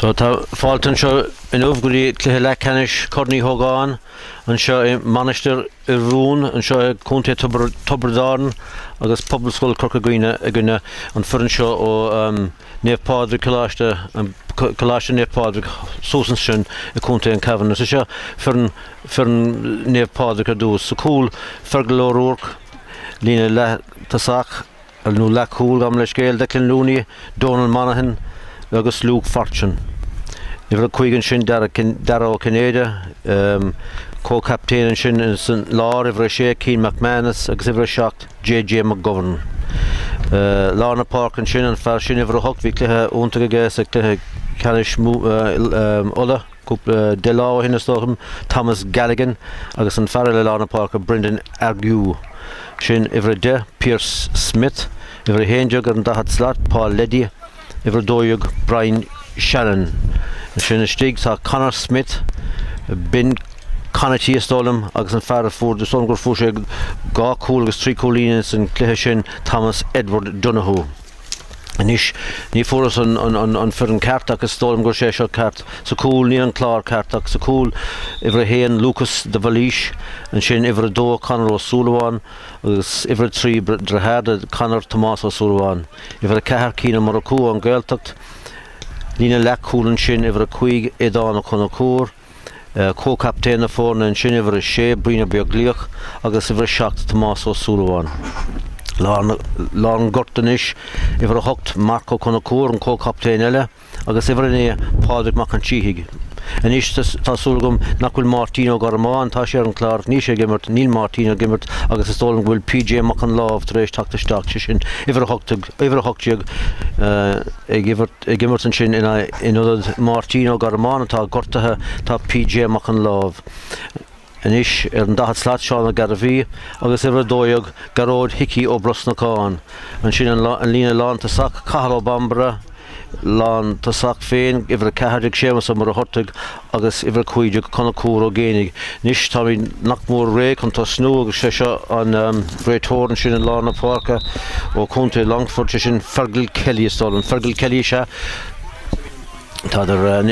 So tá fáilte anseo inniu go dtí cluiche leathcheannais Corn Uí hÓgáin anseo i Mainistir anseo i Contae Tiobraid Árann agus Pobalscoil Chorca Dhuibhne i gcoinne an foireann seo ó Naomh Pádraig Coláiste Coláiste Naomh Pádraig suas ansin i Contae an Chabháin is seo foireann foireann Naomh Pádraig ar dtús sa cúl Fergal Ó Ruairc líne leath-tosach. Ar ndú leathchúl gabh mo leithscéal Declan Looney, Donal Monaghan agus Luke Fortune. Uimhir a cúig ansin Dara Ó Cinnéide, comhchaptaen ansin san lár, uimhir a sé Cian McManus agus uimhir a seacht JJ McGovern. Lár na páirce ansin, an fear sin uimhir a hocht bhí cluiche iontach aige sa chluiche ceannais Uladh. Cúpla lá ó shin, is dóigh liom, Thomas Galligan agus an fear eile i lár na páirce, Brendan Argue. Sin uimhir 10, Pierce Smith, uimhir 11 ar an daichead slat, Paul Leddy, uimhir 12, Brian Sheanon. Ansin istigh tá Conor Smith, Ben Conaty, is dóigh liom, agus an fear a fuair, is dóigh liom gur fuair sé dhá chúl agus trí chúilín san cluiche sin, Thomas Edward Donohoe. Anois, ní fuaras an foireann ceart ach is dóigh liom gurb é seo ceart sa cúl, ní an clár ceart ach sa cúl. Uimhir a haon, Lúcas de Bhailís, ansin uimhir a dó, Conor Ó Súilleabháin, agus uimhir a trí, deartháir do Conor Tomás Ó Súilleabháin. Uimhir a ceathair, Cian Ó Murchú ón Ghaeltacht, líne leath-chúl ansin uimhir a cúig, Aodán Ó Conchúir, Comhchaptaen na foirne ansin uimhir a sé, Brian Ó Beaglaoich agus uimhir a seacht, Tomás Ó Súilleabháin. Lár an ghoirt anois uimhir a hocht, Marc Ó Conchúir, an comhchaptaen eile, agus uimhir a naoi, Pádraig Mac an tSíthigh. Anois tá súil agam nach bhfuil Máirtín Ó Gormáin, tá sé ar an chlár ach níl sé ag imirt, níl Máirtín ag imirt agus is dóigh liom go bhfuil PJ Mac Láimh tar éis teacht isteach, sé sin uimhir a hocht déag, ag imirt Ag imirt ansin in ionad Máirtín Ó Gormáin atá gortaithe tá PJ Mac Láimh, anois ar an 40 slat, Seán Ó Gairbhí agus uimhir 12 Gearóid Hicí Ó Brosnacháin. Ansin an líne lán tosach, Cathal Ó Bambaire, lán tosach féin, uimhir 14, Séamus Ó Muircheartaigh, agus uimhir 15 Conchúr Ó Géibheannaigh. Anois táimid nach mór réidh chun tosnú agus sé seo an réiteoir ansin i lár na páirce ó Chontae Longford, sé sin Fergal Kelly is dóigh liom. Fergal Kelly is ea Tadhg.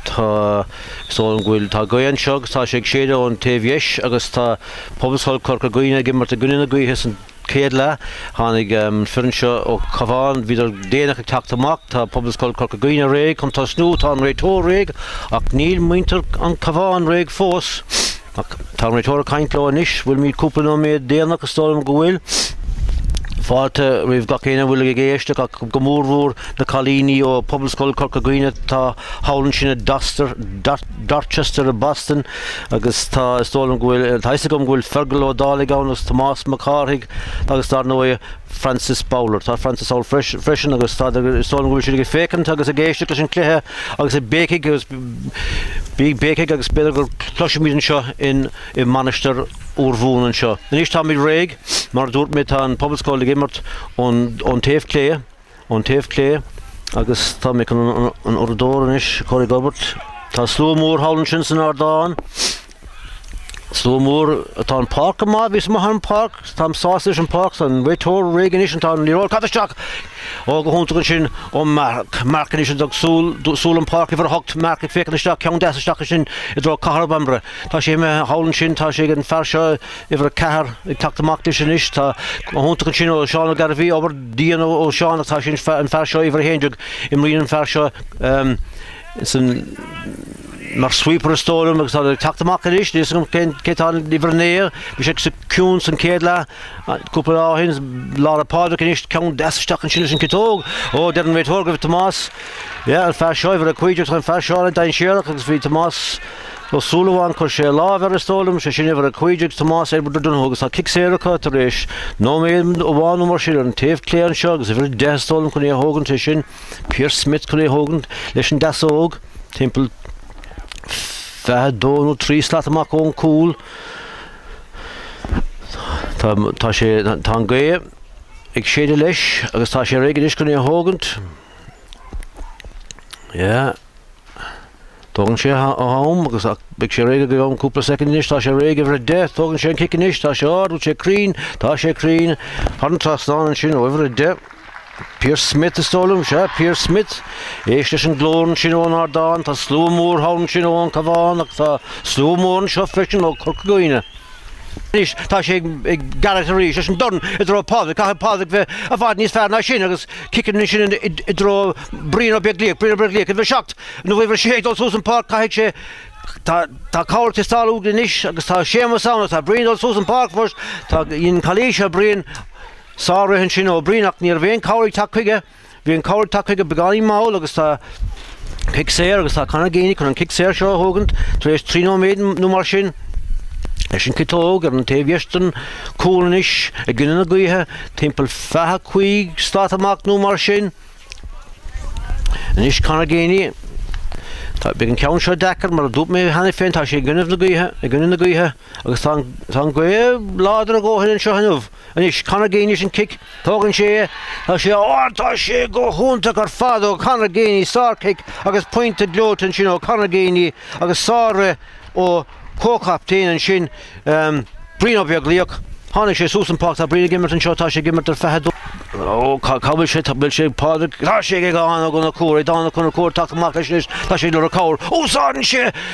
Tá is dóigh liom go bhfuil, tá gaoth anseo agus tá sé ag séideadh ón taobh dheis agus tá Pobalscoil Chorca Dhuibhne ag imirt i gcoinne na gaoithe san, chéad leath. Tháinig an foireann seo ó Chabhán. Bhíodar déanach ag teacht amach. Tá Pobalscoil Corca Dhuibhne réidh chun tosnú. Tá an réiteoir réidh. Ach níl muintir an Chabháin réidh fós. Ach tá an réiteoir ag caint leo anois. Bhfuilimíd cúpla nóiméad déanach? Is dóigh liom go bhfuil. Fáilte roimh gach éinne a bhfuil ag éisteacht ach go mór mhór na cailíní ó Pobalscoil Corca Dhuibhne. atá thall ansin i Dorchester i Boston. Agus tá, is dóigh liom go bhfuil, tá fhios agam go bhfuil Fergal Ó Dálaigh ann agus Tomás Mac Cárthaigh agus dar ndóigh Francis Bowler. Tá Francis ann freisin agus tá, is dóigh liom go bhfuil siad ag féachaint agus ag éisteacht leis an chluiche agus ag béicigh agus bí ag béicigh agus b'fhéidir go gcloisfimid anseo in, i Mainistir Urmhumhan anseo. Anois táimid réidh, mar a dúirt mé tá an Pobalscoil ag imirt ón, ón taobh clé. ón taobh clé agus táim chun an uaireadóir anois a chur ag obair. Tá slua mór thall ansin san ardán. Slua mór atá an páirc go maith, bhíos amuigh ar an páirc, táim sásta leis an páirc, tá an réiteoir réidh anois, tá an liathróid caite isteach ó go hiontach ansin ó Marc. Marc anois ag dul suas, suas an pháirc uimhir a hocht, Marc ag féachaint isteach, ceann deas isteach ansin i dtreo Cathal Bambury. Tá sé imithe thall ansin, tá sé ag an fear seo, Uimhir a ceathair ag teacht amach leis anois. Tá go hiontach ansin ó Seán Ó Gairbhí. Obair dian ó Seán ach tá sé ag an fear seo, uimhir a haon déag, imríonn an fear seo san mar sweeper is dóigh liom agus tá sé ag teacht amach anois. Níl 'fhios agam cé atá in uimhir a naoi. Bhí sé saghas ciúin san céad leath cúpla lá ó shin. Lára Pádraig anois ceann deas isteach ansin leis an ciotóg. Ó deir an réiteoir go bhfuil Tomás, yeah, an fear seo, uimhir a cúig déag, tá an fear seo dainséarach agus bhí Tomás, Ó Súilleabháin chuir sé a láimh air is dóigh liom, sé sin uimhir a 15 ag Tomás Edward O'Donoghue agus tá cic saor acu tar éis nóiméad amháin nó mar sin ar an taobh clé anseo agus uimhir a deich is dóigh liom chun é a thógaint, sé sin Pierce Smith chun é a thógaint leis an deasóg timpeall fiche dó nó trí slat amach ón cúl. Tá sé tá an ghaoth ag séideadh leis agus tá sé réidh anois chun é a thógaint. Yeah. Tógann sé am agus beidh sé réidh i gceann cúpla soicind anois, tá sé réidh uimhir 10, tógann sé an cic anois, tá sé ard, bhfuil sé cruinn, tá sé cruinn, thar an trasnán ansin ó uimhir 10. Pierce Smith is dóigh liom, sea, Pierce Smith. Éist leis an glór ansin ón ardán, tá slua mór thall ansin ón Cabhán agus tá slua mór anseo freisin ó Corca Dhuibhne. Anois tá sé ag Gearóid arís leis an dorn i dtreo Phádraig, caithfidh Pádraig bheith i bhfad níos fearr ná sin agus ciceann ansin i dtreo Brian Ó Beaglaoich, Brian Ó Beaglaoich uimhir a seacht, nó uimhir a sé ag dul suas an pháirc, caithfidh sé, tá cabhair ag teastáil uaidh anois agus tá Séamus ann agus tá Brian ag dul suas an pháirc fós, tá, dhein an cailín seo, Brian, sár-rith ansin ó Bhrian ach ní raibh aon cabhair ag teacht chuige. Bhí an cabhair tagtha chuige beagáinín mall agus tá cic saor agus tá Conor Geaney chun an cic saor seo a thógaint tar éis trí nóiméad nó mar sin leis an ciotóg ar an taobh dheas den chúl anois i gcoinne na gaoithe timpeall 25 slat amach nó mar sin anois Conor Geaney Tá, beidh an ceann seo deacair mar a dúirt mé cheana féin, tá sé i gcoinne na gaoithe, i gcoinne na gaoithe agus tá an, tá an gaoth láidir a dhóthain anseo inniu. Anois, Conor Geaney is an cic, tógann sé é, tá sé ard, tá sé go hiontach ar fad ó Conor Geaney, sárchic agus pointe gleoite ansin ó Conor Geaney agus sárobair ó comhchaptaen ansin, Brian Ó Beaglaoich. Tháinig sé suas an pháirc, tá Brian ag imirt anseo, tá sé ag imirt ar 22. Ó, cad bhfuil sé, bhfuil sé, Pádraig, tá sé ag Dan O'Connor, ag Dan O'Connor, ag teacht amach leis anois, tá sé ag lorg cabhair, úsáideann sé,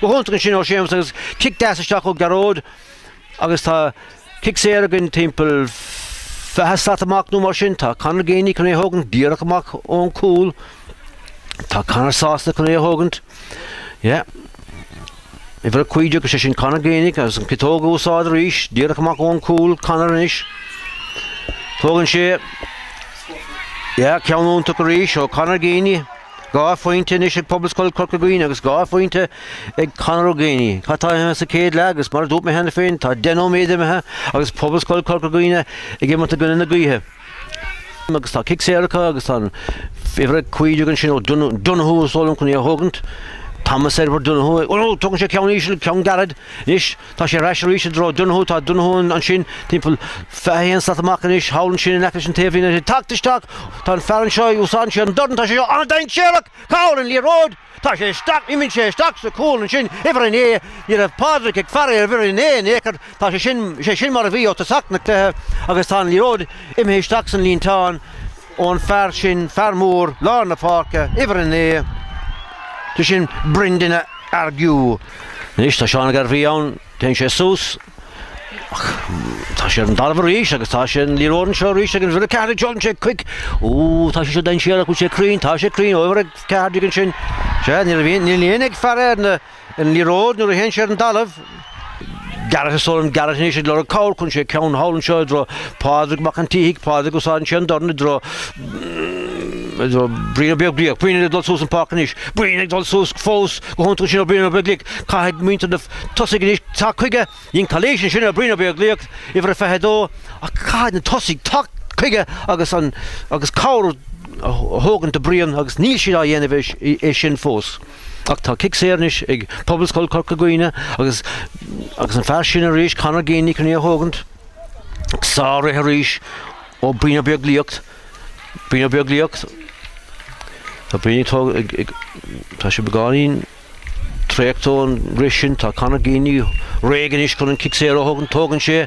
Go hiontach ansin ó Séamus agus cic deas isteach ó Gearóid agus tá cic saor againn timpeall fiche slat amach nó mar sin. Tá Conor Geaney chun é a thógaint díreach amach ón gcúl. Tá Conor sásta chun é a thógaint. Yeah. Uimhir a cúig déag, sé sin Conor Geaney agus an ciotóg á úsáid arís díreach amach ón gcúl Conor anois. Tógann sé Yeah, ceann iontach arís ó Conor Geaney. Dhá phointe anois ag Pobalscoil Chorca Dhuibhne agus dhá phointe ag Conor Geaney. Cad atá imithe sa chéad leath agus, mar a dúirt mé cheana féin, tá deich nóiméad imithe agus Pobalscoil Chorca Dhuibhne ag imirt i gcoinne na gaoithe. agus tá cic saor acu agus tá uimhir 15 ansin ó Donoghue is dóigh liom chun é a thógaint. Thomas Edward Donoghue. Ó, tugann sé ceann íseal, ceann gairid. Anois, Tá sé ar ais arís i dtreo Donohoe. Tá Donohoe ansin, timpeall 21 slat amach anois thall ansin in aice leis an taobhlíne. Tá teacht isteach. Tá an fear anseo, úsáideann sé an dorn. Tá sé seo an-dainséarach! Cá bhfuil an liathróid! Tá sé isteach, imíonn sé isteach sa chúl ansin, uimhir a naoi. Ní raibh Pádraic ag faire ar uimhir a naoi in aon chor. Tá sé, is é sin mar a bhí ó tosach na cluiche agus tá an liathróid imithe isteach san líonteán. Ón fear sin, fear mór, lár na páirce, uimhir a naoi, sé sin Brendan Argue. Anois tá Seán Ó Gairbhí ann, téann sé suas. Ach tá sé ar an dtalamh arís agus tá sé, an liathróid anseo arís ag an uimhir a ceathair déag, tógann sé cic. Ó, tá sé seo dainséarach, bhfuil sé cruinn, tá sé cruinn, ó, uimhir a ceathair déag ansin. Sea, níl éinne ag faire ar na. An liathróid, nuair a théann sé ar an dtalamh. Gearóid Ó Súilleabháin, Gearóid anois ag lorg cabhair, cuireann sé ceann thall anseo i dtreo Pádraig Mac an tSíthigh, Pádraig úsáideann sé an dorn i dtreo Brian Ó Beaglaoich, Brian ag dul suas an páirc anois, Brian ag dul suas fós go hiontach ansin ó Brian Ó Beaglaoich, caithfidh muintir na tosaigh anois teacht chuige, dhein calaois ansin ar Brian Ó Beaglaoich, uimhir a 22, ach caithfidh na tosaigh teacht chuige agus an agus cabhair a thógaint do Brian agus níl siad á dhéanamh é sin fós. Ach tá cic saor anois ag Pobalscoil Chorca Dhuibhne agus agus an fear sin arís, Conor Geaney, chun í a thógaint sár-rith arís ó Brian Ó Beaglaoich, Brian Ó Beaglaoich. Tá Brian ag tó- ag- ag- tá sé beagáinín traochta ón rith sin. Tá Conor Geaney réidh anois chun an cic saor a thógaint. Tógann sé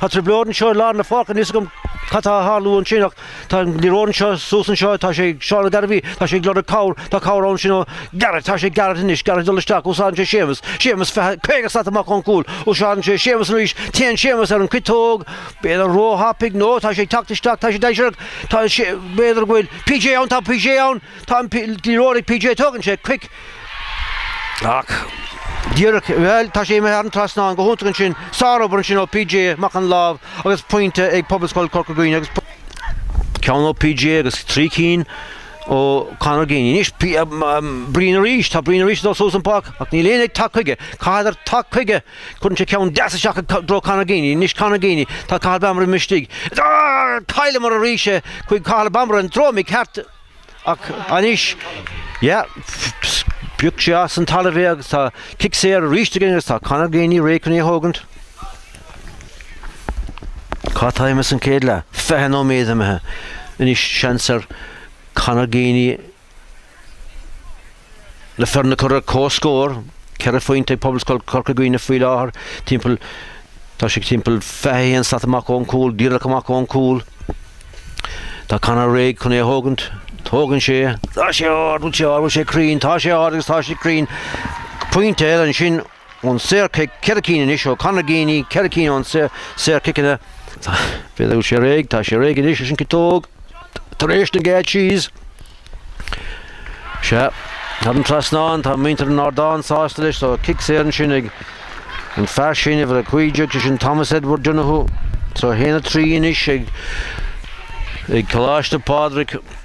Tá trioblóid anseo i lár na pháirce, níl 's agam cad tá a tharlú ansin ach tá an liathróid anseo suas anseo, tá sé ag Seán Ó Gairbhí, tá sé ag lorg cabhair, tá cabhair ansin ó Garret, tá sé Garret anois, Garret ag dul isteach, úsáideann sé Séamus, Séamus 20, 50 slat amach ón gcúl, úsáideann sé Séamus arís, téann Séamus ar an ciotóg, b'fhéidir róthapaidh, nó tá sé ag teacht isteach, tá sé dainséarach, tá sé, b'fhéidir go bhfuil PJ ann, tá PJ ann, tá an liathróid ag PJ, tógann sé cic, Ach díreach, bheul, tá sé imithe thar an trasnán go hiontach ansin, sárobair ansin ó PJ Mac an Lámh agus pointe ag Pobalscoil Chorca Dhuibhne agus ceann ó PJ agus trí cinn ó Conor Geaney. Anois, Brian arís, tá Brian arís ag dul suas an páirc ach níl éinne ag teacht chuige. Caitheadar teacht chuige, cuireann sé ceann deas isteach i dtreo Conor Geaney. Anois Conor Geaney, tá Cathal Bambaire istigh. Cailleamar arís é chuig Cathal Bambaire, an droim ag ceart. Ach anois, yeah, phioc sé as an talamh é agus tá cic saor arís againn agus tá Conor Geaney réidh chun í a thógaint. Cad tá imithe san céad leath? Fiche nóiméad imithe. Anois seans ar Conor Geaney Le foirne a chur ar comhscór, ceithre phointe ag Pobalscoil Chorca Dhuibhne faoi láthair, timpeall tá sé timpeall 21 slat amach ón gcúl, díreach amach ón gcúl. Tá Conor réidh chun é a thógaint. Tógann sé. Tá sé ard, bhfuil sé ard, bhfuil sé cruinn, tá sé ard agus tá sé cruinn. Pointe eile ansin ón saor cic, ceithre cinn anois ó Conor Geaney, ceithre cinn ón saor ciceanna. B'fhéidir go bhfuil sé réidh, tá sé réidh anois leis an ciotóg, tar éis na gcéad síos. Sea, thar an trasnán, tá muintir an ardáin sásta leis, so cic saor ansin ag an fear sin, uimhir a cúig déag, sé sin Thomas Edward Donoghue, so haon a trí anois ag Coláiste Phádraig.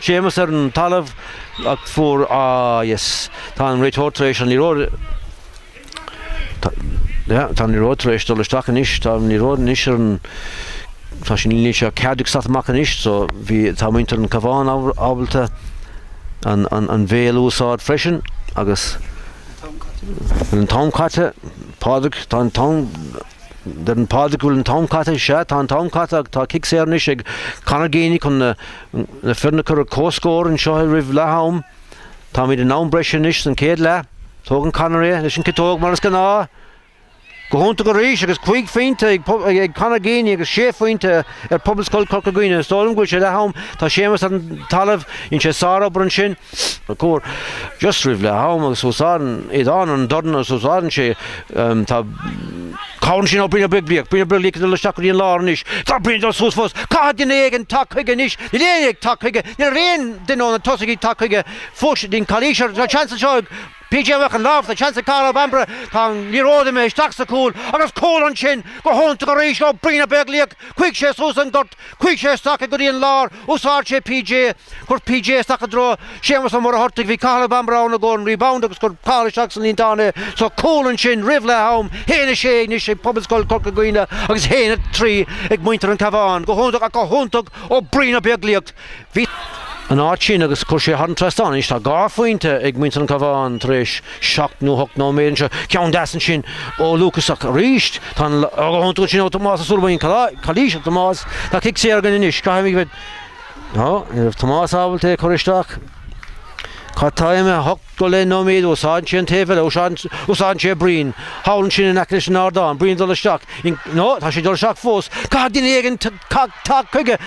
Séamus ar an talamh ach fuair, ah yes, tá an réiteoir tar éis, an liathróid, yeah, tá an liathróid tar éis dul isteach anois, tá an liathróid anois ar an, tá sé níl sé ceathair déag slat amach anois, so bhí, tá muintir an Cabhán ábalta an, an, an bhéal a úsáid freisin agus bhfuil an t-am caite, Pádraig, tá an t-am, deireann Pádraig go bhfuil an t-am caite, sea, tá an t-am caite ach tá cic saor anois ag Conor Geaney chun na, Na foirne a chur ar comhscór anseo roimh leath-am. Táimid in am breise anois san céad leath. Tógann Conor é leis an ciotóg mar is gnáth. Go hiontach arís agus cúig phointe ag Conor Geaney agus sé phointe ar Pobalscoil Chorca Dhuibhne. Is dóigh liom go bhfuil sé leath-am. Tá Séamus ar an talamh. Dhein sé sár-obair ansin. Cuir just roimh leath am agus úsáideann iad an an dorn agus úsáideann sé tá cabhair ansin ó Brian Ó Beaglaoich, Brian Ó Beaglaoich ag dul isteach go dtí an lár anois. Tá Brian ag dul suas fós. Caithfidh duine éigin teacht chuige anois. Níl éinne ag teacht chuige. Ní raibh aon duine óna tosaigh ag teacht chuige. Fós den calaois tá seans anseo ag PJ Mac an Láimh tá seans ag Cathal Ó Bambaire tá an liathróid imithe isteach sa cúl agus cúl ansin go hiontach arís ó Brian Ó Beaglaoich. Chuaigh sé suas an gort. Chuaigh sé isteach go dtí an lár úsáid sé PJ cuir PJ isteach i dtreo Séamus Ó Muircheartaigh bhí Cathal Ó Bambaire ann i gcóir an rebound agus cuir Cathal isteach sa líontán é so cúl ansin roimh leath am a haon a sé anois ag Pobalscoil Corca Dhuibhne agus a haon a trí ag muintir an Cabhán go hiontach ach go hiontach ó Brian Ó Beaglaoich Bhí an áit sin agus chuir sé thar an trasnán. Anois tá dhá phointe ag muintir an Cabhán tar éis seacht nó hocht nóiméad anseo. Ceann deas ansin ó Lucas ach arís. Tá an lá go hiontach ansin ó Tomás Ó Súilleabháin. Calaois ar Tomás. Tá cic saor againn anois. Caithfimid a bheith Ná, ní raibh Tomás ábalta é a chur isteach. Cad tá imithe hocht go leith nóiméad úsáideann sé an taobh eile úsáideann sé Brian thall ansin in aice leis an ardán, Brian ag dul isteach. Nó tá sé dul isteach fós. Caithfidh duine éigin Teacht, teacht chuige.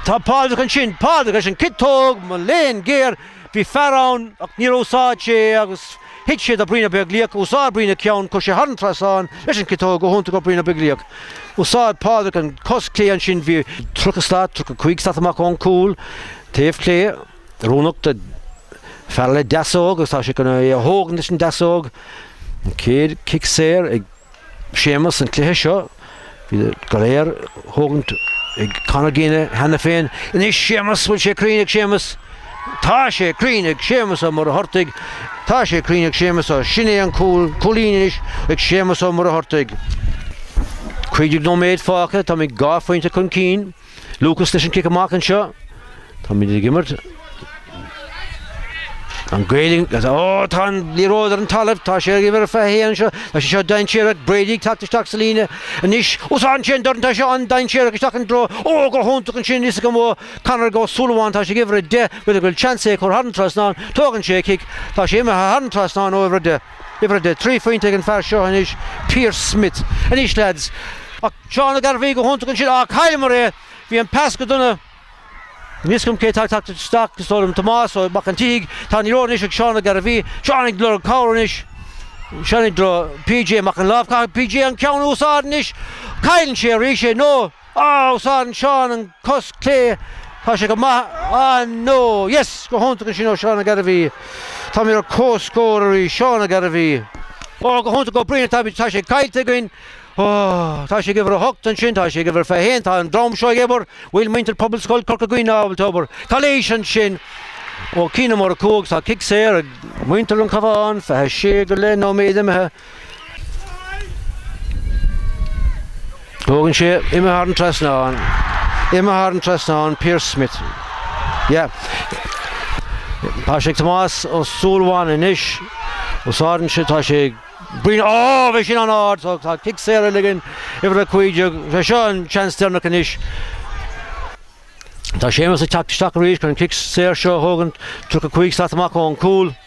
Tá Pádraig ansin. Pádraig, leis an ciotóg mo léan géar, bhí fear ann ach níor úsáid sé é agus thit sé do Brian Ó Beaglaoich, úsáid Brian a cheann, chuir sé thar an trasnán leis an ciotóg go hiontach Brian Ó Beaglaoich. Úsáid Pádraig an cos clé ansin, bhí tríocha slat, tríocha cúig slat amach ón cúl, taobh clé, oiriúnach do fear le deasóg agus tá sé chun é a thógaint leis an deasóg, an chéad chic saor ag. Séamus an cluiche seo. Bhí iad go léir thógaint ag Conor Geaney cheana féin. Anois Séamus, bhfuil sé cruinn ag Séamus? Tá sé cruinn ag Séamus Ó Muircheartaigh. Tá sé cruinn ag Séamus Ó. Sin é an cúl, cúilín anois ag Séamus Ó Muircheartaigh. Cúig déag nóiméad fágtha, táimid dhá phointe chun cinn. Lucas leis an cic amach anseo. Táimid ag imirt. An Gaeilge, ó, tá an liathróid ar an talamh, tá sé ag uimhir fiche a haon anseo, tá sé seo dainséarach, Brady ag teacht isteach sa líne anois, úsáideann sé an dorn, tá seo an-dainséarach isteach i dtreo, ó, go hiontach ansin, is go mba Conor Ó Súilleabháin, tá sé ag uimhir a deich, b'fhéidir go bhfuil seans é a chur thar an trasnán, tógann sé a cic, tá sé imithe thar an trasnán ó uimhir a deich. Uimhir a deich. Trí phointe ag an fear seo anois, Pearce Smith. Anois leaids. Ach Seán Ó Gairbhí go hiontach ansin. Á, chailleamar é! Bhí an pas go dona. Níl fhios agam cé atá ag teacht isteach, is dóigh liom Tomás Ó Mac an tSíthigh. Tá an liathróid anois ag Seán Ó Gairbhí. Seán ag lorg cabhair anois. Seán i dtreo PJ Mac an Láimh. Caithfidh PJ an ceann a úsáid anois. Cailleann sé arís é. No. Á, Seán, Seán, an cos chlé, tá sé go maith, á no, yes, go hiontach ansin ó Seán Ó Gairbhí. Tá mé ar comhscór arís, Seán Ó Gairbhí. Ó, go hiontach ó Brian, tá sé caillte againn, ó, tá sé ag uimhir a hocht ansin, tá sé ag uimhir fiche haon, tá an dream seo ag obair, bhfuil muintir Phobalscoil Chorca Dhuibhne ábalta obair, cléis ansin. Ó, cinn uimhir a cúig, tá cic saor ag muintir an Chabháin, fiche sé go leith nóiméad imithe. Tógann sé imithe thar an trasnán, imithe thar an trasnán, Pearse Smith. Yeah. Tá sé ag Tomás Ó Súilleabháin anois, úsáideann sé, tá sé ag Brian, Ó, bheidh sin an-ard, tá cic saor ag uimhir a cúig déag, sé seo an seans deireanach anois. Tá Séamus ag teacht isteach arís chun an cic saor seo a thógaint, 35 slat amach ón gcúl.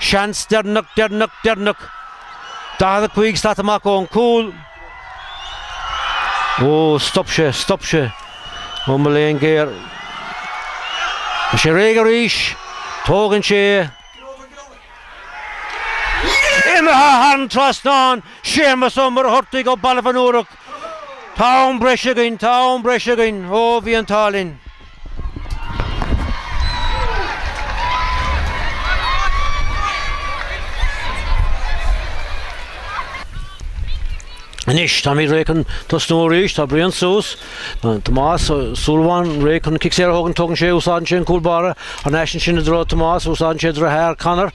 Seans deireanach, deireanach, deireanach. 45 slat amach ón gcúl. Ó, stop sé, stop sé. Ó mo léan géar. Tá sé réidh arís. Tógann sé é. Imithe thar an trasnán, Séamus Ó Muircheartaigh, ó Baile an Mhúraigh. Tá am breis againn, tá am breis againn, ó bhí an t-ádh linn. Anois, táimid réidh chun tosnú arís, tá Brian suas, Tomás Ó Súilleabháin, réidh chun cic saor a thógaint, tógann sé, úsáideann sé an cúl báire, ar n-ais ansin i dtreo Tomás, úsáideann sé droichead Conor,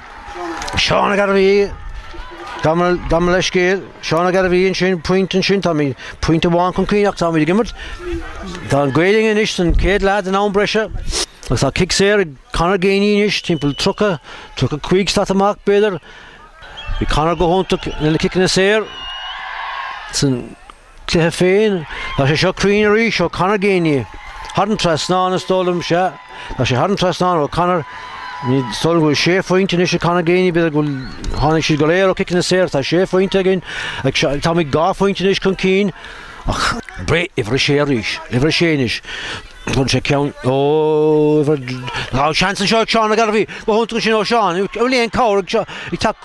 Seán Ó Gairbhí, gabh mo leithscéal. Seán Ó Gairbhí ansin, pointe ansin, táimid pointe amháin chun cinn ach tá muid ag imirt. Tá an gaoth linn anois san céad leath den am breise agus tá cic saor ag Conor Geaney anois, timpeall 30, 35 slat amach b'fhéidir. Bhí Conor go hiontach lena ciceanna saor san. Cluiche féin, tá sé seo cruinn arís ó Conor Geaney. Thar an trasnán, is dóigh liom. Sea, tá sé thar an trasnán ó Conor. Is dóigh liom go bhfuil sé phointe anois ag Conor Geaney, b'fhéidir go bhfuil, tháinig siad go léir ó chiceanna saor, tá sé phointe againn, táimid dhá phointe anois chun cinn. Ach breith uimhir a sé arís, uimhir a sé anois, bhain sé ceann, ó, uimhir, ghabh seans anseo ag Seán Ó Gairbhí, go hiontach ansin ó Seán, bhfuil aon cabhair ag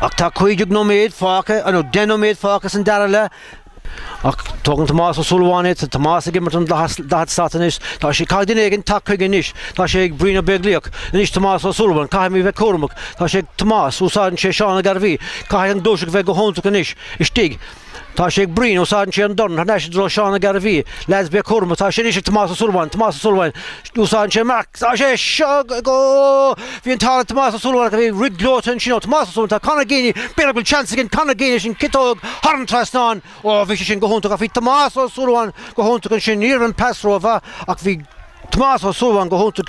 Ach tá cúig déag nóiméad fágtha, nó deich nóiméad fágtha san dara leath, ach tógann Tomás Ó Súilleabháin é, tá Tomás ag imeall an daichead slat anois, tá sé, caithfidh duine éigin teacht chuige anois, tá sé ag Brian Ó Beaglaíoch, anois Tomás Ó Súilleabháin, caithfimid bheith cúramach, tá sé ag Tomás, úsáideann sé Seán Ó Gairbhí, caithfidh an ghluaiseacht bheith go hiontach anois, istigh, Tá sé ag Brian, úsáideann sé an dorn thar n-ais i dtreo Seán Ó Gairbhí, leaids bígí cúramach atá sé anois ag Tomás Ó Súilleabháin, Tomás Ó Súilleabháin, úsáideann sé Marc, tá sé seo ag, ó! Bhí an t-ádh le Tomás Ó Súilleabháin ach bhí rud gleoite ansin ó Thomás Ó Súilleabháin, tá Conor Geaney, b'fhéidir go bhfuil seans againn Conor Geaney leis an ciotóg thar an trasnán, ó bhí sé sin go hiontach ach bhí Tomás Ó Súilleabháin go hiontach ansin, ní raibh an pas rómhaith ach bhí Tomás Ó Súilleabháin go hiontach.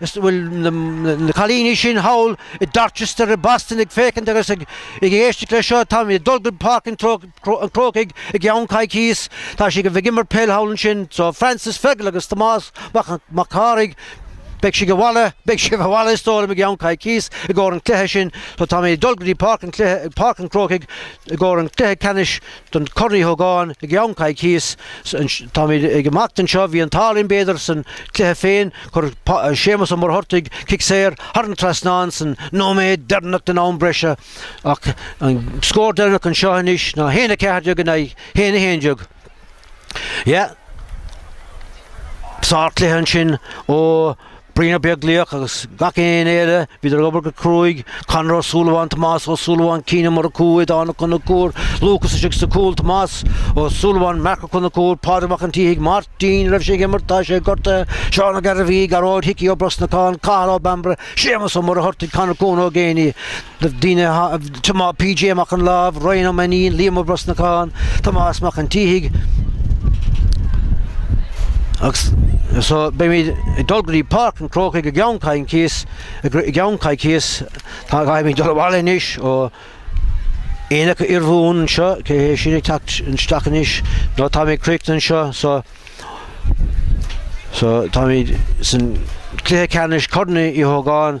Is bhfuil na cailíní sin thall i Dorchester i mBoston ag féachaint agus ag éisteacht leis seo. Táimid ag dul go dtí Páirc an Chrócaigh i gceann coicíos. Tá siad ag imirt peil thall ansin. So, Francis Phegal agus Tomás Mac, Mac Cárthaigh, beidh siad abhaile, beidh siad abhaile is dóigh liom i gceann coicíos i gcomhair an chluiche sin. So, táimid ag dul go dtí Páirc an chluiche, Páirc an Chrócaigh i gcomhair an chluiche ceannais. don Chorn Uí Ógáin i gceann coicíos. Táimid ag imeacht anseo, bhí an t-ádh linn b'fhéidir san cluiche féin, chuir Séamus Ó Muircheartaigh cic saor thar an trasnán san nóiméad deireanach den am breise, ach an scór deireanach anseo anois ná 1, 14 in aghaidh 1, 11. Yeah. Sárchluiche ansin ó. Brian Ó Beaglaoich agus gach éinne eile, bhíodar ag obair go cruaidh, Conor Ó Súilleabháin, Tomás Ó Súilleabháin, Cian Ó Murchú, Aodhán Ó Conchúir, Lúcas istigh sa chúl, Tomás Ó Súilleabháin, Marc Ó Conchúir, Pádraig Mac an tSíthigh, Máirtín, ní raibh sé ag imirt, tá sé gortaithe, Seán Ó Gairbhí, Gearóid Hickey Ó Brosnacháin, Cathal Ó Bambaire, Séamas Ó Muircheartaigh, Conor, Con Ó Géibheannaigh, Na daoine, PJ Mac an Láimh, Ryan Ó Mainnín, Liam Ó Brosnacháin, Tomás Mac an tSíthigh, agus so beimid ag dul go dtí Páirc an Chrócaigh i gceann, i gceann coicíos, táimid ag dul abhaile anois ó Aonach Urmhumhan anseo, cé hé sin ag teacht isteach anois, nó táimid ag críochnú anseo so, so táimid san cluiche ceannais Chorn Uí Ógáin.